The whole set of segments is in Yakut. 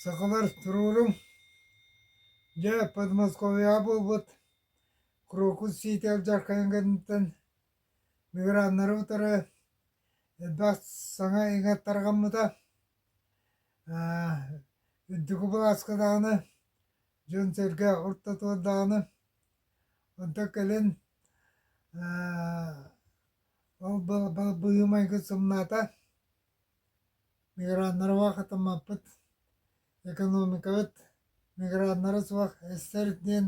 Сахалар туруорум дьэ Подмосковьеҕа буолбут Крокус Ситэл Дьархайын кэнниттэн миграннары утары элбэх саҥа иҥат тарҕаммыта. Үрдүкү былааска даҕаны дьон-сэргэ ортотугар даҕаны онто кэлэн ол быһыы-майгы сымнаата миграннарга хатыммаппыт экономикабыт миграннара суох эстэр диэн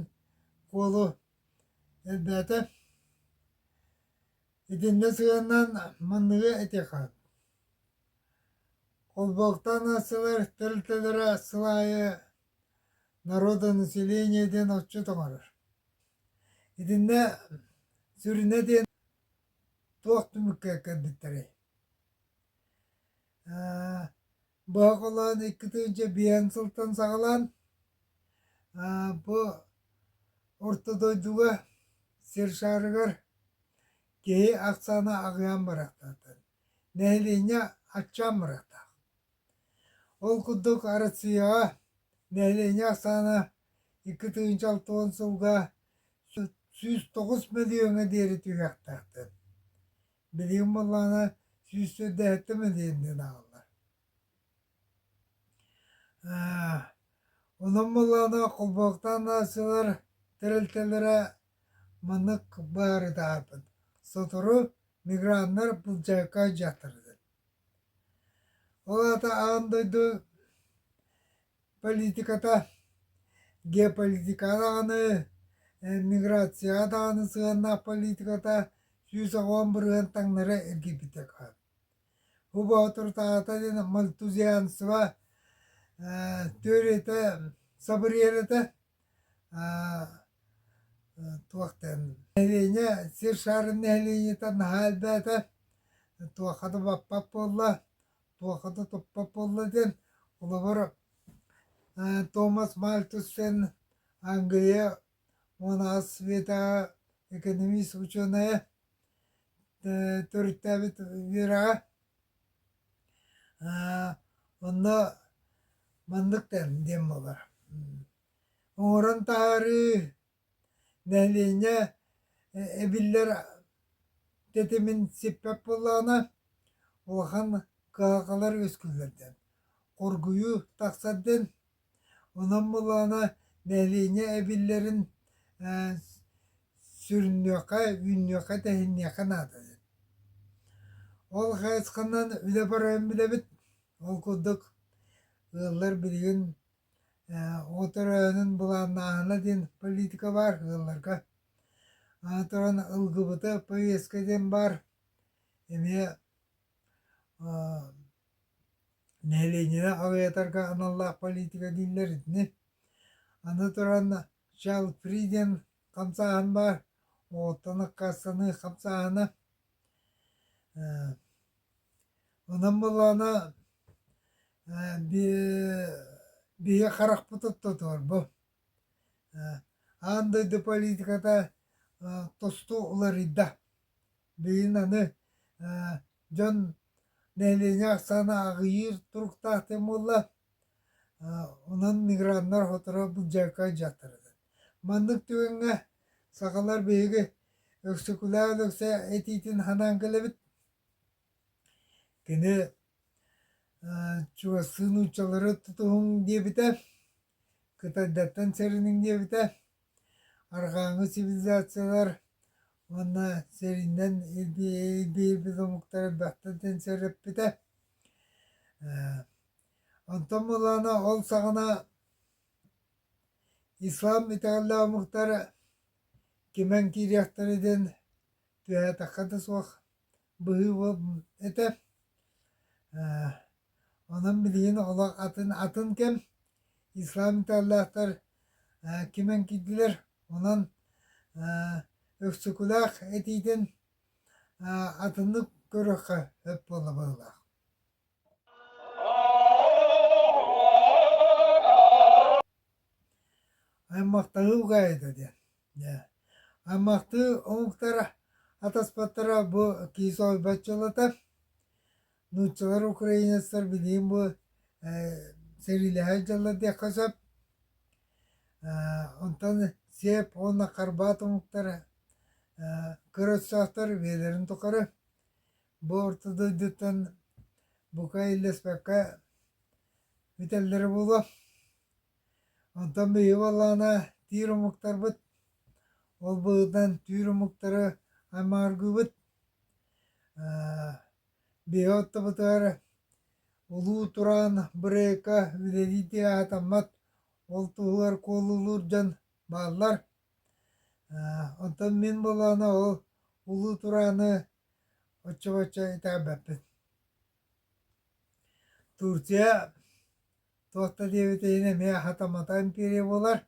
куолу элбээтэ итиннэ сыһыаннаан манныгы этиэхэ холбоктоон аассылар тэрилтэлэрэ сыл аайы народонаселение диэн отчут оҥорор. Итиннэ сүрүнэ диэн туох түмүккэ кэлбиттэрий? Боһоколоон икки тыынча биэһин сылтан саҕалаан бу орто дойдуга сир шаарыгар киһи ахсаана аҕыйаан барахтаахтар. Нэһилиэнньэ аччаан барахтаах. Ол курдук Россияҕа нэһилиэнньэ ахсаана икки тыһыынча алтыһын сылга сүүс тоҕус мөлүйүөҥҥэ диэри түһүөхтээхтэр. Билигин буоллаҕына сүүс төрдөөһүттэ мөлүйүөннээн аҕалар. Онон буоллаҕына холбооктоон аахсыылар тэрилтэлэрэ маннык баары таһаарбыт: сотору миграннар былдьайыкка дьахтардын Ол аата аан дойду политиката геополитикаҕа даҕаны миграцияҕа даҕаны сыһыаннаах политиката сүүс оҕон бырыһыан таҥнары эргийбитэ хаал. Бу боотуртаата диэн мальтузианство теориятэ, собриянета туох дээн нэһилиэнньэ сир шаарын нэһилиэнньэтэ наһаа элбээтэ туохха да баппат буолла туохха да туппат буолла диэн холобур томас мальтусен ангия мунаас светэҕэ экономист учуонайа төрүттээбит үөрэҕэ Онно маннык тэрил диэн буолар: оҥорон таһаарыы, нэһилиэнньэ эбиллэр тэтимин сиппэт буоллаҕына, улахан кыһалҕалар үөскүүллэр диэн. Хоргуйуу тахсар диэн Онон былаана нэһилиэнньэ эбиллэрин ээ сүрүннүөххэ, үүннүөххэ, тэһинниэххэ наадайын. Ол хайысханан үлэ барарын билэбит. Ол курдук ыаллар билигин ээ от өрөөнүн былааннааһына диэн политика баар ыалларга. Аны туран ылгыбыта повестка диэн баар. Эмиэ аа Нэилиэнньэни аҕыйатарга аналлаах политика дииллэр итини. Аны туран чал фриден хамсааһын баар, оҕоттон аккаастаныы хамсааһына. Онон буоллаҕына биһиги харахпыт оттотор бу. Аан дойду политиката тосту уларыйда. Билигин аны дьон нэһилиэнньэ ахсаана аҕыйыыр туруктаахтык буолла. Онон миграннар сотору дьарыкка дьарыктанар. Маннык түгэҥҥэ сахалар биһиги Өксөкүлээх Өлөксөй этиитин санаан кэлэбит. Кини чугастыы нууччалары тутуһуҥ диэбитэ, кытайдартан сэриниҥ диэбитэ. Арҕааҥы цивилизациялар уонна сэринэн илбиэйбит омуктара баттан тэн сөрөппүтэ. Онтон буолаана ол саҕана ислам итэҕэллээх омуктар кимэн киириэхтэрэ диэн түһээтэххэ да суох быһыы этэр онон билигин олох атын атын кэм ислам италлаахтар кимэн киирдилэр онон өксөкүлээх этиитин атыннык көрүөххэ сөп буолла быһыылаах аймактаһыы угаайыта диэн Аймахтыы омуктара атаспаттара бу киис ойбаччылата. Нууччалар украинецтар билигин бу сэриилэһэ дьылла диэххэ сөп. Онтон сиэп уонна харбаат омуктара кыра өтсөөхтөр бэйэлэрин тухары бу орто дойдуттан бука иллэспэккэ бүтэллэрэ буолуо. Оттон биһиги буоллаҕына тиир омуктарбыт, ол быһыытынан түүр омуктары аймааргыыбыт. биһиги ортобутугар улуу тураан бырайыакка үлэлии дии аатаммат ол туһугар куолулуур дьон бааллар. оттон мин буоллаҕына ол улуу турааны оччо-боччо итэҕэбэппин. Турция Туох да диэбит иһин эмиэ хатаматаан тириэ буолар.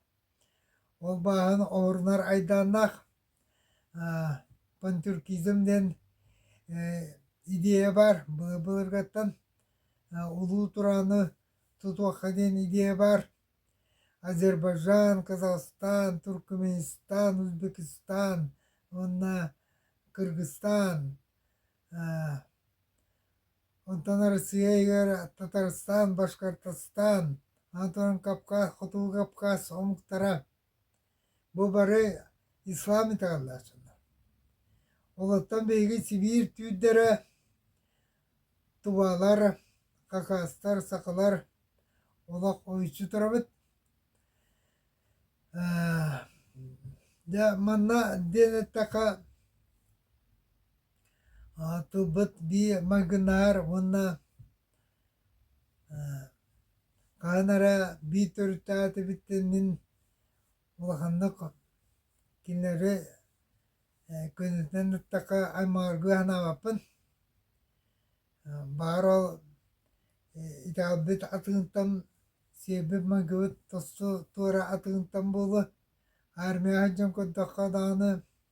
Ол бааһын оһорунар айдааннаах пантюркизм диэн идея баар былыргаттан улуу турааны тутуохха диэн идея баар. Азербайджан, Казахстан, Туркменистан, Узбекистан уонна Кыргызстан Онтон Арассыыйа Татарстан, Башкортостан, онтон Кавказ, Хотугу Кавказ омуктара бу бары ислам италлааччылар. Олортон биһиги Сибиир түүрдэрэ, тубалар, какаостар, сахалар олох ойуччу турабыт. Дьэ манна диэн эттэхэ Оттубут бии магынаар уонна хаһан эрэ бии төрүттээтибиттэн мин улаханнык кинилэри көнөтүнэн аттахха аймаҕыргыы санаабаппын. Баар ол италбыт атыынтан сиэрбит майгыбыт тосту туора атыынтан буолуо, армияҕа сылдьан көрдөххө даҕаны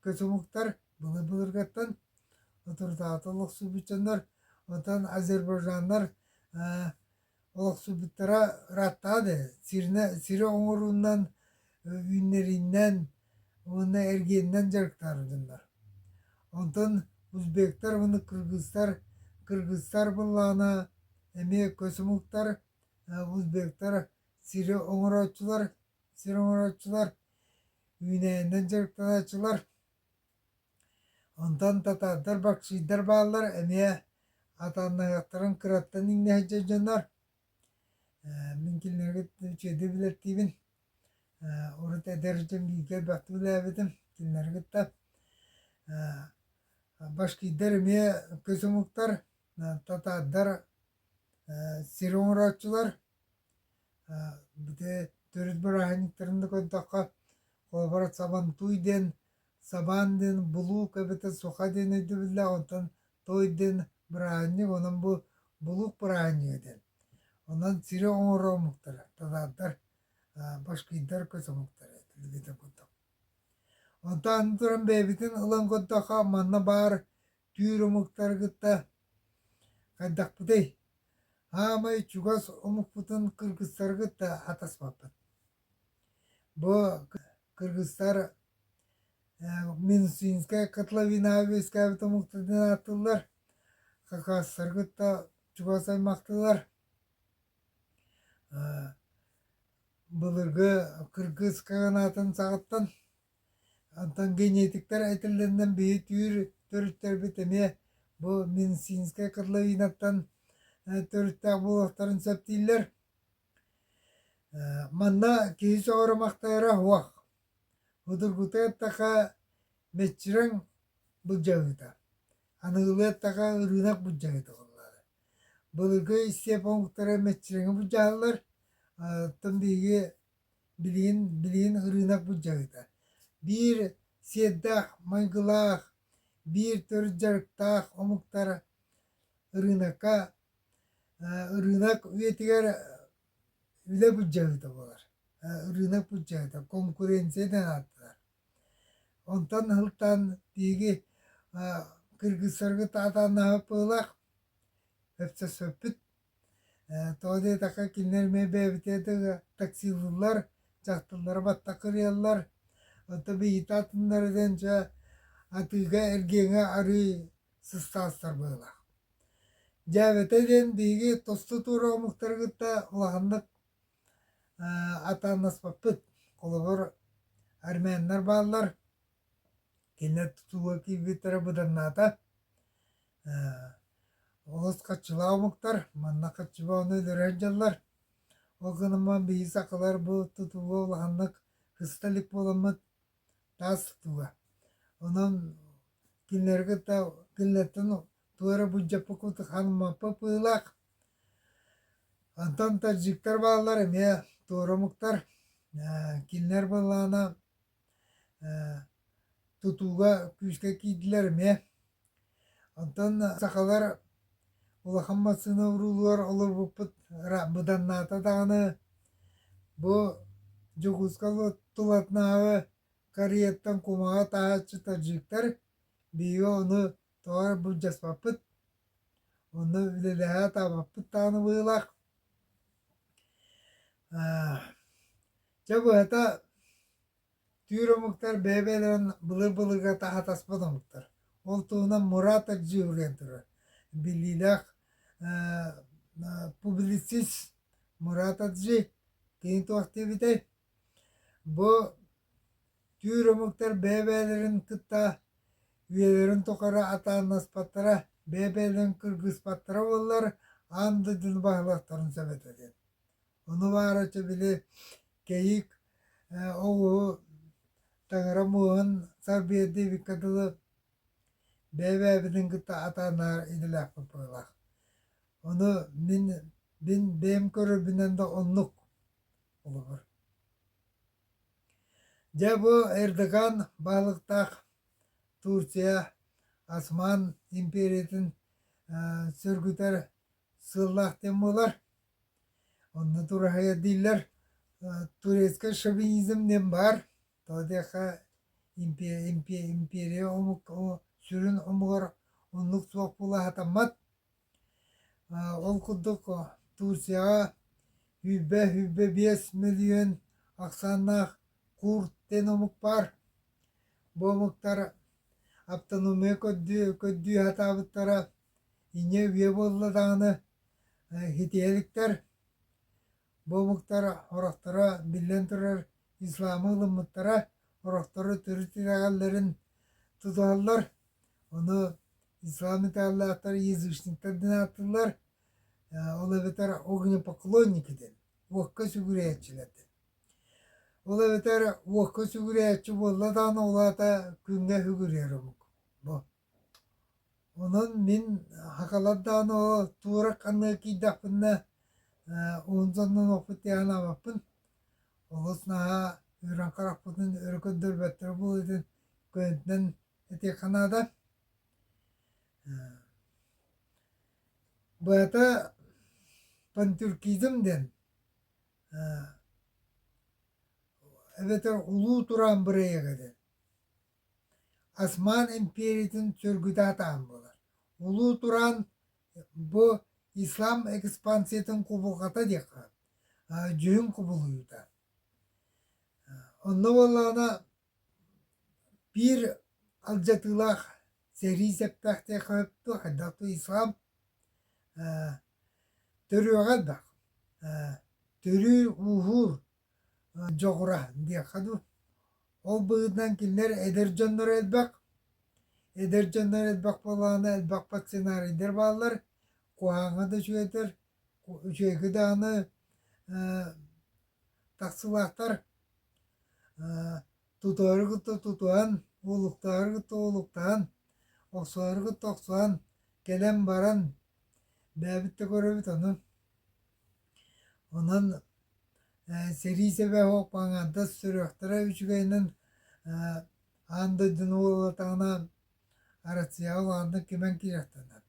кычумуктар былыр-былыргаттан авторитаатыл олохсуйбут дьоннор, оттон азербайджаннар олохсуйбуттара ырааттаа да, сиринэ, сири оҥоруунан, үүннэриинэн уонна эргиэнинэн дьарыктаабыттар. Онтон узбектар уонна кыргызтар, кыргызтар былаана эмиэ кычумуктар, узбектар сири оҥорооччулар сир оҥорооччулар, үүнээнинэн дьарыктанааччылар, онтон татаардар, баксиирдар бааллар эмиэ атааннаһыахтарын кыраттан иҥнэ сылдьар дьоннор. Мин кинилэргэ үчүгэйдик билэттиибин. Урут эдэр дьон бииргэ элбэхтик үлэлээбитим кинилэри кытта. Башкиирдар эмиэ көс омуктар, татаардар сир оҥорооччулар Бити төрүт бырааһынньыктарын да көрдөххө, холобура сабантуй диэн, сабаан диэн булуук эбэтэр суха диэн өйдөбүллээх, онтон той диэн бырааһынньык, онон бу булуук бырааһынньыга диэн. Онон сири оҥоро омуктара, татаардар, башкирдар көс омуктара этэ билигин да курдук. Онтон аны туран бэйэбитин ылан көрдөххө, манна баар түүр омуктары кытта хайдахпытый аамай чугас омукпутун кыргыстары кытта атаспаппыт бу кыргыстар минусинская котловина үөскээбит омуктарынан ааттыыллар хакаастары кытта чугас аймактыылар былыргы кыргыс канаатын саҕаттан Онтон генетиктэр этиллэринэн биһи түүр төрүттэрбит эмиэ бу Минцинскай котловинаттан төрүттээх буолуохтарын сөп дииллэр. манна киһи сөҕөрөмөхтөөөрө уох удургутуй аттаха меччирэҥ былдьаһыыта аныгылыы аттаха ырыынак былдьаһыыта буоллаҕа былыргы истиэпэ омуктара меччирэҥи былдьаһаллар оттон биһиги Билигин билигин ырыынак быдьаһыта: биир сиэрдээх майгылаах, биир төрүт дьарыктаах омуктар ырыынакка ырыынак үйэтигэр үлэ быдьаһыта буолар, ырыынак быдьаһыта, конкуренция диэн ааттанар. Онтон ыһылтаан тиһиги кыргыттарга атааннаһыппылаах, сөпсөспүт Тоҕо диэтэххэ кинилэр эмиэ бэйэбитэ да таксилыыллар, дьахталлары батта кырыйаллар. Оттон биһигитэ атыннары диэн дьэ атыыга эргиэҥэ арыый сыстаастар быһыылаах. Дьээбэтэ диэн биһиги тосту туора омуктары кытта улаханнык атаанаспаппыт. Холобур, армяннар бааллар, Кинилэр тутууга киирбиттэрэ быданнаата, олус хаччылаах омуктар, манна хаччыбаҕаны өлөрөр дьаллар. Ол гынан биһиги сахалар бу тутууга улаханнык һыста илик буоламмыт таас тутууга. Онон кинилэри кытта кинилэртэн тугу эрэ былдьаппыт курдук хааныммаппыт быһыылаах. Онтон таджиктар бааллар эмиэ туора омуктар, кинилэр буоллаҕына тутууга күүскэ киирдилэр эмиэ онтон сахалар улахан массыына уруулугар олорбуппут быданнаата даҕаны бу дьокуускалыы тулатынааҕы карьертан кумаҕы атаһааччы таджиктар биһиги ону тоҕо эрэ былдьаспаппыт онно үлэлэһэ атаабаппыт даҕаны быһыылаах Дьэ быһата түүр омуктар бэйэ-бэйэлэрин былыр-былырга таһаатаспыт омуктар. Ол туһунан Мурат Аджиевүлээн турар биллиилээх публицист Мурат Аджи кини туох диэбитэй Бу түүр омуктар бэйэ-бэйэлэрин кытта үйэлэрин тухары атааннаспаттара, бэйэ-бэйэлэрин кыргыспаттара буоллар, аан дойдуну баһылыктарын сөбүтэ диэн. Ону баарыча били кэйик оҕуһу таҥара муоһун сарбыйа диэбиккэ дылы бэйэ-бэйэбитин кытта атааннарар идэлээхпит быһыылаах. Ону мин бэйэм көрөрбүнэн да оннук олорор. Дьэ бу Эрдоган баалыктаах Турция Осман империятын сөргүтэр сыллаах дэн буолар. Онно тураһыйа дииллэр турецкай шовинизм дэн баар. Тодеха империя омук сүрүн омугар оннук суох була хатаммат. Ол курдук Турцияҕа сүүрбэ сүүрбэ биэс мөлүйүөн ахсааннаах кур тен омук баар. Бу омуктар автономия көрдүү сатаабыттара инньэ үйэ буолла даҕаны хитиһэликтэр. Бу омуктар орохторо, биллэн турар, исламы ылыммыттара, орохторо төрүт итэҕэллэрин тутуһаллар. Ону с вами тааллааттар язычниктар ден ааттыыллар ол эбэтэр огнепоклонники ден уокка сүгүрээччилэрдин ол эбэтэр уокка сүгүрээччи буолла даҕаны ол аата күҥҥэ сүгүрүйэр омук бу онон мин хакалар даҕаны ол туора ханнык кийдэхпиннэ онзоннон оппут яан абаппын олус наһаа үрэн харахпытын өрө көрдөрбөттөрө буолуо дин көнтнен этиэххэ наада Быата пантюркизм диэн эбэтэр улуу тураан бырайыага диэн Осман империятын сөргүтаатаан буолар. Улуу тураан бу ислам экспансиятын кубулҕата диэххэ дьүһүн кубулуйуута. Онно буоллаҕына Биир алдьатыылаах сэрии сэттэхтээх хайдах тыйсаҕым ээ төрүөҕэ элбэх ээ төрүүр-ууһуур дьоҕура диэххэ дуу ол быһыытынан кинилэр эдэр дьонноро элбэх эдэр дьоннор элбэх буоллаҕына элбэх сценарийдэр бааллар куһаҕаҥҥа да үчүгэйдэр Үчүгэйгэ даҕаны таксылаахтар тутуары кытта тутуһан, уулуктаары кытта уулуктаһан, охсуһары кытта охсуһан, кэлэн баран бэйэбит да көрөбүт ону. Онон сэрии сэбэһэ суох паҥаардас сүрэхтэрэ үчүгэйинэн аан дойдуну уулатаҕына Арассыыйаҕа улаатыннар кимэн киириэхтэнэр.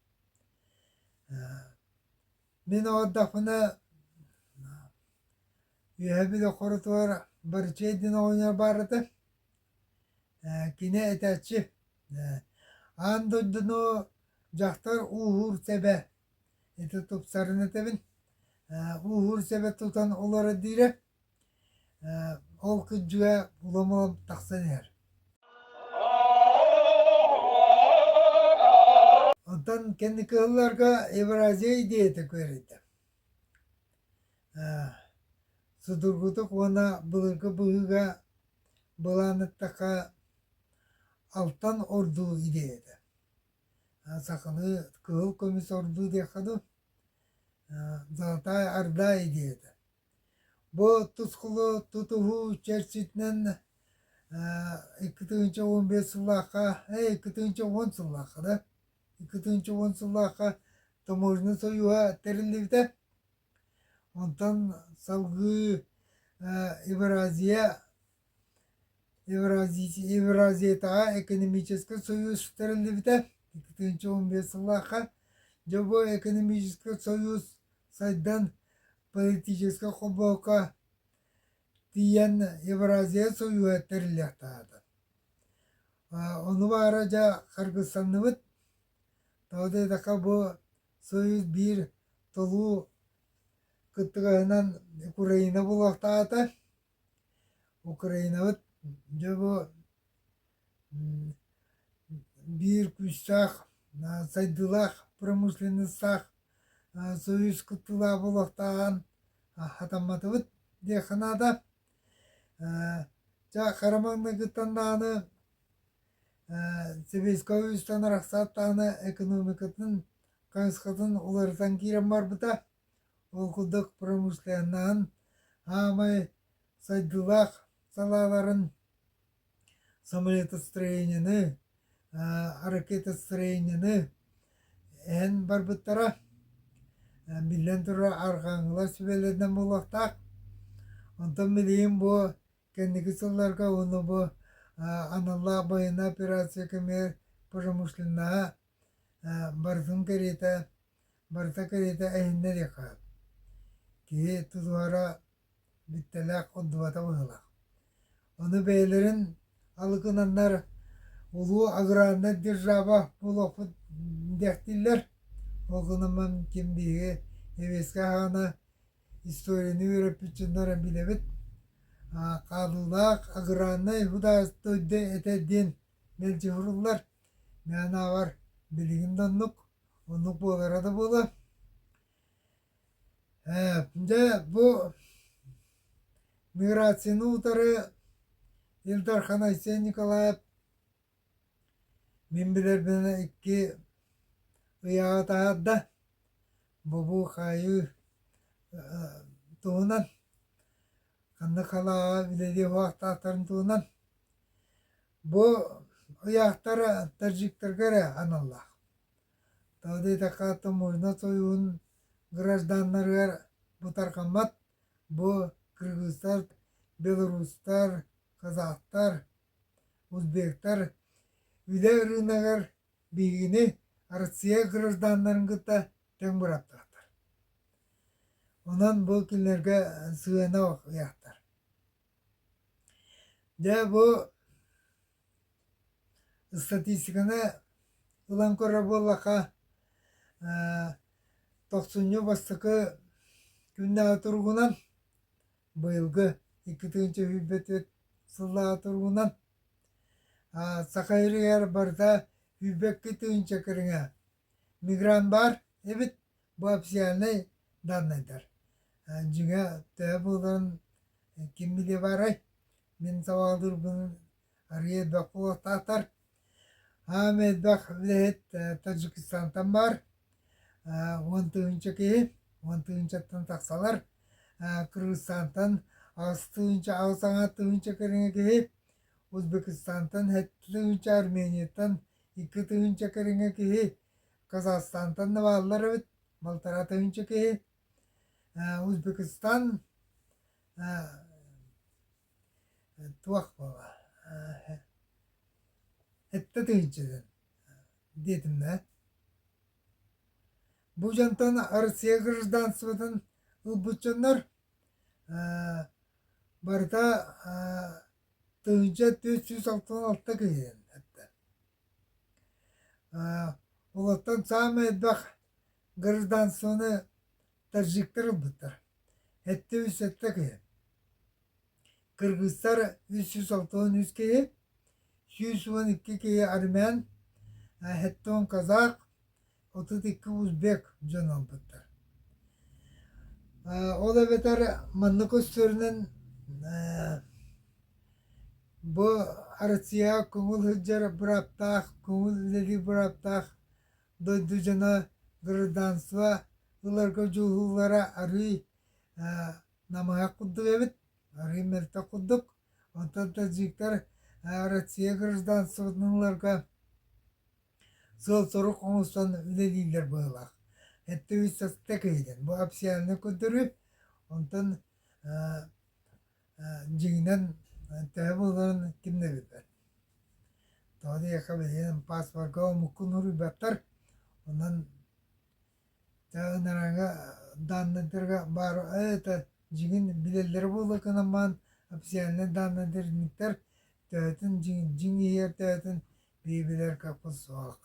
Мин оҕордохпуна үөһэбит хорутугар бырчыай диэн оҕонньор баар этэ. Ээ кини этээччи ээ аан дойдуну дьахтар ууһуур сэбэ ити тупсарын этэбин ээ ууһуур сэбэ тутан олорор диирэ Ол күндүгэ уламом тахсан иһэр Онтон кэнники сылларга Евразия идеята күөрэйдэ судургутук уонна былыргы быһыыга былааннатахха алтан ордуу идеята сахалыы кыһыл көмүс ордуу диэххэ дуу золотая орда идеята Бу тускулу тутуһуу чэрчитинэн икки тыһыынча уон биэс сыллаахха, ээ икки тыһыынча уон сыллаахха да, икки тыһыынча уон сыллаахха таможня сойууһа тэриллибитэ. Онтон салгыы Евразия Евразиятааҕы экономическай сойуус тэриллибитэ икки тыһыынча уон биэс сыллаахха Дьобуй экономическай сойуус сайдан политическай хобуокка тиийэн Евразия сойууһа тэриллиэхтээҕэ. Ону баара дьэ харгыстанныбыт. Тоҕо диэтэххэ бу сойуус биир толуу кыттыгаһынан Украина буолуохтаахата. Украинабыт дьобо биир күүстээх сайдыылаах промышленностаах союз кыттыылаах буолуохтааҕын хатамматыбыт диэххэ наада. Чэ хараманныгыттан даҕаны сэбиэскэй үһүстэн арахсаат даҕаны экономикатын хайысхатын уларытан киирэн барбыта. Уокулдьах промышленноһын аамай сайдыылаах салааларын самолетостроениены, ракетостроениены эһэн барбыттара. Биллэн турар, арҕааҥҥылар сүбэлэринэн буолуохтаах. Онтон билигин бу кэнники сылларга уонна бу аналлаах байыаннай операция кэмигэр промышленноһа Барытын кэриэтэ, барыта кэриэтэ эһиннэр диэххэ сөп. Киһи тутуһара бүттэлээх, ордубата быһыылаах. Ону бэйэлэрин алыкынаннар улуу аграрнай держава буолуохпут диэхтииллэр. Ол гынан ким биһиги сэбиэскэй аһаҕана историяны үөрэппит дьоннор билэбит. хаалыылаах аграрнай этэ диэн Мэлдьэһоруллар мээнээҕэр билигин да оннук, оннук буолара да буолуо. Дьэ бу миграцияны утары Ил Дархан Айсен Николаев мин билэрбинэн икки ыйааҕы таһаарда. Бобуу-хаайыы туһунан Ханна халааҕа үлэлиир уһаахтаахтарын туһунан бу ыйаахтар таджиктарга эрэ аналлаах. Тоҕо диэтэххэ, Тумуйна союһун гражданнарыгар бутархаммат бу кыргызтар, белорустар, казахтар, узбектар үлэ ырыынагар Биһигини Россия гражданнарын кытта тэҥ быраттахтар. Онон бу күннэргэ сыһыанах ыйахтар. Дьэ бу статистиканы ылан көрөр буоллахха тохсунньу бастакы күннээҕи туругунан быйылгы икки тыһыынча сүүрбэ түөрт сыллааҕы туругунан Саха ырыаһар барыта үүрбэккэ тыһыынча кэриҥэ мигрант баар эбит бу официальнай даннайдар дьиҥэ төһө буоларын ким билиэ баарай мин сабаалыырбын арыйа элбэх буолуохтаахтар аан элбэх үлэһит Таджикистантан баар уон тыһыынча киһи уон тыһыынчаттан тахсалар кыргызстантан аҕыс тыһыынча аҕыс аҥа тыһыынча кэриҥэ киһи узбекистантан сэттэ тыһыынча арменияттан икки тыһыынча кэриҥэ киһи казахстантан да бааллар эбит балтараа тыһыынча киһи узбекистан туох буолла сэттэ тыһыынча дэн диэтимнэ Бу дьонтон Россия гражданствотын ылбыт дьоннор барыта тыһыынча төрт сүүс алтан алта киһи эттэ. Олортон саамай элбэх гражданствоны таджиктар ылбыттар. Эттэ үс сэттэ киһи Кыргызтар үс сүүс алтан үс киһи, сүүс уон икки киһи армян, сэттэ казах, отут икки узбек дьон оҥпуттар. Ол эбэтэр манна көстөрүнэн бу Россияҕа көҥүл сылдьар бырааптаах, көҥүл үлэлиир бырааптаах дойду дьоно гражданство ыларга дьуһуулара арыый намыһах курдук эбит арыы мөлтөх курдук онтон таджиктар россия гражданствотыныларга сыал-сорук оҥостон үлэлииллэр быһыылаах эттэ үс састык иһинэн бу официальнай көрдөрүү онтон дьиҥинэн төһө буоларын ким да билбэт тоҕо диэххэ билигин паспорга омукку норуйбаттар онон ынараҥа данныйдарга баар это дьиҥин билэллэрэ буоллакынан баан официальнай данныйдарниктар төһөтүн дьиҥ дьиҥ иһигэр төһөтүн бии билэр каппыт суох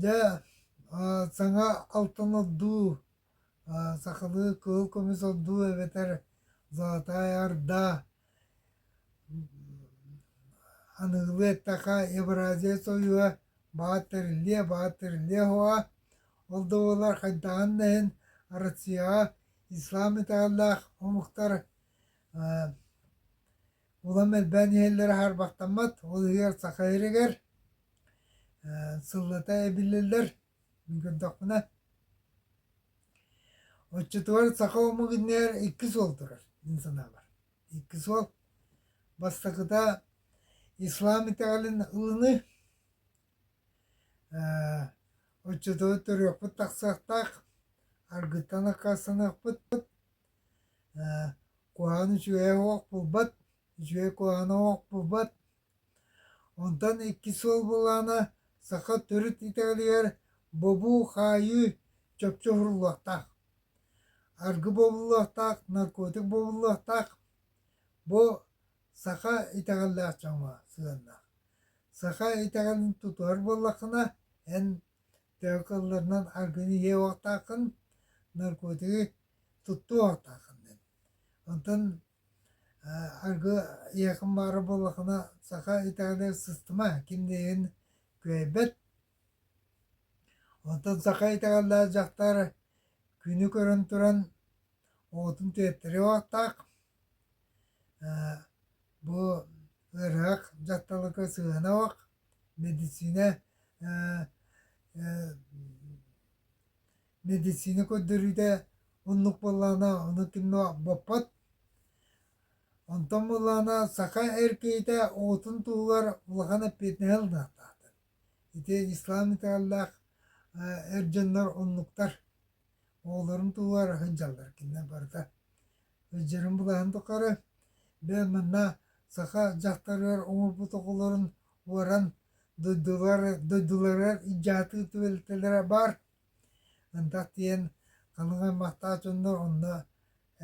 дьэ саҥа алтыны дуу сахалыы кыыл кумус ордуу эбэтэр золотая орда аныгылыы эттэххэ евразия сойуо баҕат тэриллиэ баҕат тэриллиэ оһоҕо ол да буоллар хайдаҕын да иһин россияҕа ислам италлаах омуктар улам элбээн иһэллэрэ харбахтаммат ол иһигэр саха иһиригэр сыллата эбиллэллэр Мин көрдөхпүнэ, оччотугар саха омугунньар иккис уол турар мин санаабар. Иккис уол бастакыта ислам итэҕэлин ылыныы, оччотугу төрүөхпүт тахсыахтаах, аргыттан аккастаныахпыт, куһаҕан үчүгэйэ суох буолбат, үчүгэй куһаҕана суох буолбат Онтон икки суол былаана саха төрүт итэҕэлигэр бобуу-хаайыы чопчу уһуруллуохтаах. Аргы бобуллуохтаах, наркотик бобуллуохтаах. Бу саха итэҕэллээх дьоҥҥо сыһыаннаах. Саха итэҕэлин тутуһар буоллаххына, эн төһө кылларынан аргыны иһиэхтааххын, наркотигы туттуохтааххын диэн. Онтон Аргы ийэким баара буоллаххына саха италине сыстыма кимдиин кыайбат онтон саха италиялаах дьахтар күнү көрөн туран уотун түөртэрэ уоттаах бу ыраах дьахталга сыһыана уох медицина Мэдиссиинэ көрдөрүүтэ оннук буоллаҕына аны түҥҥэ боппот. Онтон буоллаҕына саха эр киһитэ оҕотун туһугар улахан эппиэтинэһи ылыахтаахтар. Ити ислам итэҕэллээх эр дьоннор оннуктар. Оҕолорун туһугар сылдьаллар кинилэр барыта. Ыалдьарын булаһын тухары бэл манна саха дьахтарыгар оҥорбут оҕолорун уоран дойдулар дойдуларыгар ижаатыы түбэлтэлэрэ баар. Ындах диэн аныгы аймахтаах дьоннор онно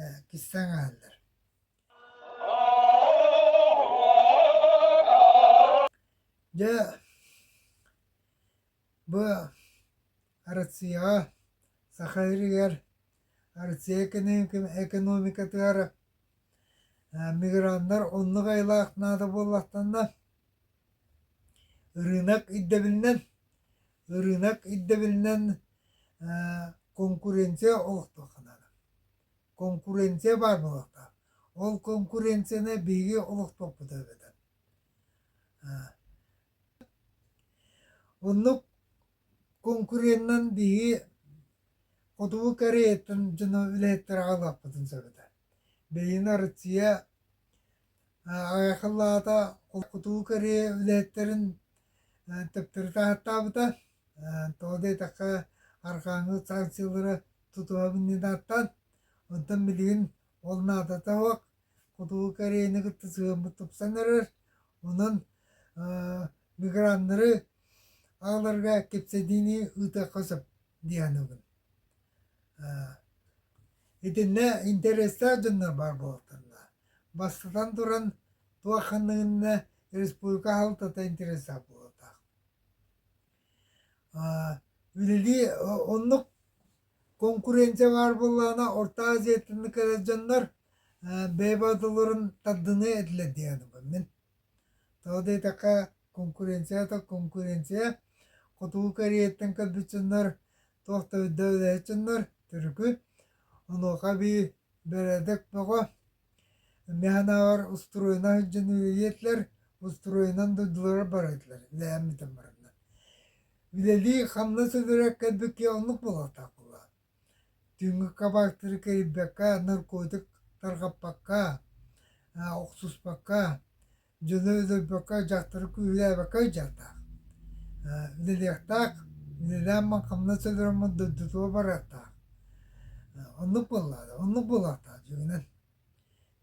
ээ кистээн иһэллэр Дьэ бу Россияҕа Саха сиригэр Россия экономикатыгар миграннар оннук айылаах наада буоллахтанна Ырыынак ирдэбилинэн ырыынак ирдэбилинэн конкуренция олохтуохха наада. Конкуренция баар буолуохтаах. Ол конкуренцияны биһиги олохтуохпут эбэтэр. Оннук конкуренынан биһиги Хотугу Кореяттан дьону үлэһиттэри аҕалыахпытын сөп этэ. Бэйиэнэ Россия Айахылаата кутуу кэрийэ үлэһиттэрин төптөрү таһааттаабыта тоҕо диэтэххэ арҕааҥҥы санкциялары тутуһа мунньунааттан онтон билигин ол наадата суох кутуу кэриэни кытта сыһыаммыт тупсан эрэр онон миграннары аҕаларга кэпсэтиини ыытыахха сөп дии саныыбын итиннэ интэриэстээх дьоннор баар буолуохтарына Бастатан туран, туох ханныгынна республика аһалтата интереса буолута. Үлэлии оннук конкуренция баар буоллаҕына Орто Азиятын кэлэ дьоннор бэйбатыларын тардыныы этилэр диэн мин. Тоҕо диэтэххэ конкуренцията конкуренция Хотугу Кореяттан көрбүт дьоннор туох да өйдөбүлэ дьоннор түрүкү онуоха эбии Бэрээдэк бөҕө. Эмиэ санааҕар устуруойна сылдьан үлэлиэтилэр, устуруойынан дойдулара бара этилэр, үлэлээн бүтэн бараннар. Үлэлии хамнас өлөрөр кэлбит киһи оннук буолуохтаах буолуо. Түҥҥүк кабактары кэрийбэккэ, наркотик тарҕаппакка, охсуспакка, дьоно өлөрбөккө дьахтары күүһүлээбэккэ ыдьардаах үлэлиэхтээх үлэлээммин хамнас өлөрөммүн дойдутуга барыахтаах оннук буоллаҕа оннук буолуохтаах дьиҥинэн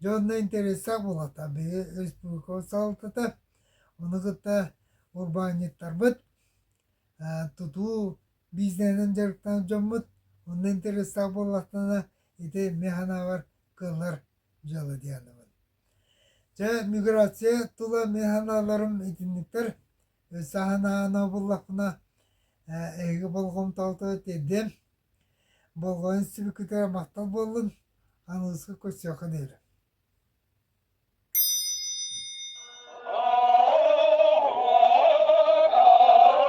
дьэ онно интэриэстээх буолуохтаах биһиги республика салалтата ону кытта урбаанньыттарбыт тутуу бизнесинэн дьарыктанар дьоммут онно интэриэстээх буоллахтарына ити эмиэ санаабар кыаллар дьыала дии саныыбын Чэ, миграция тула механаларым итинниктэр өссө санаан абыллахпына эһиги болҕомтоҕуту тиэрдиэм. Болҕойон сибикитигэр махтал буоллун, аныыска көрсүөххэ диэри.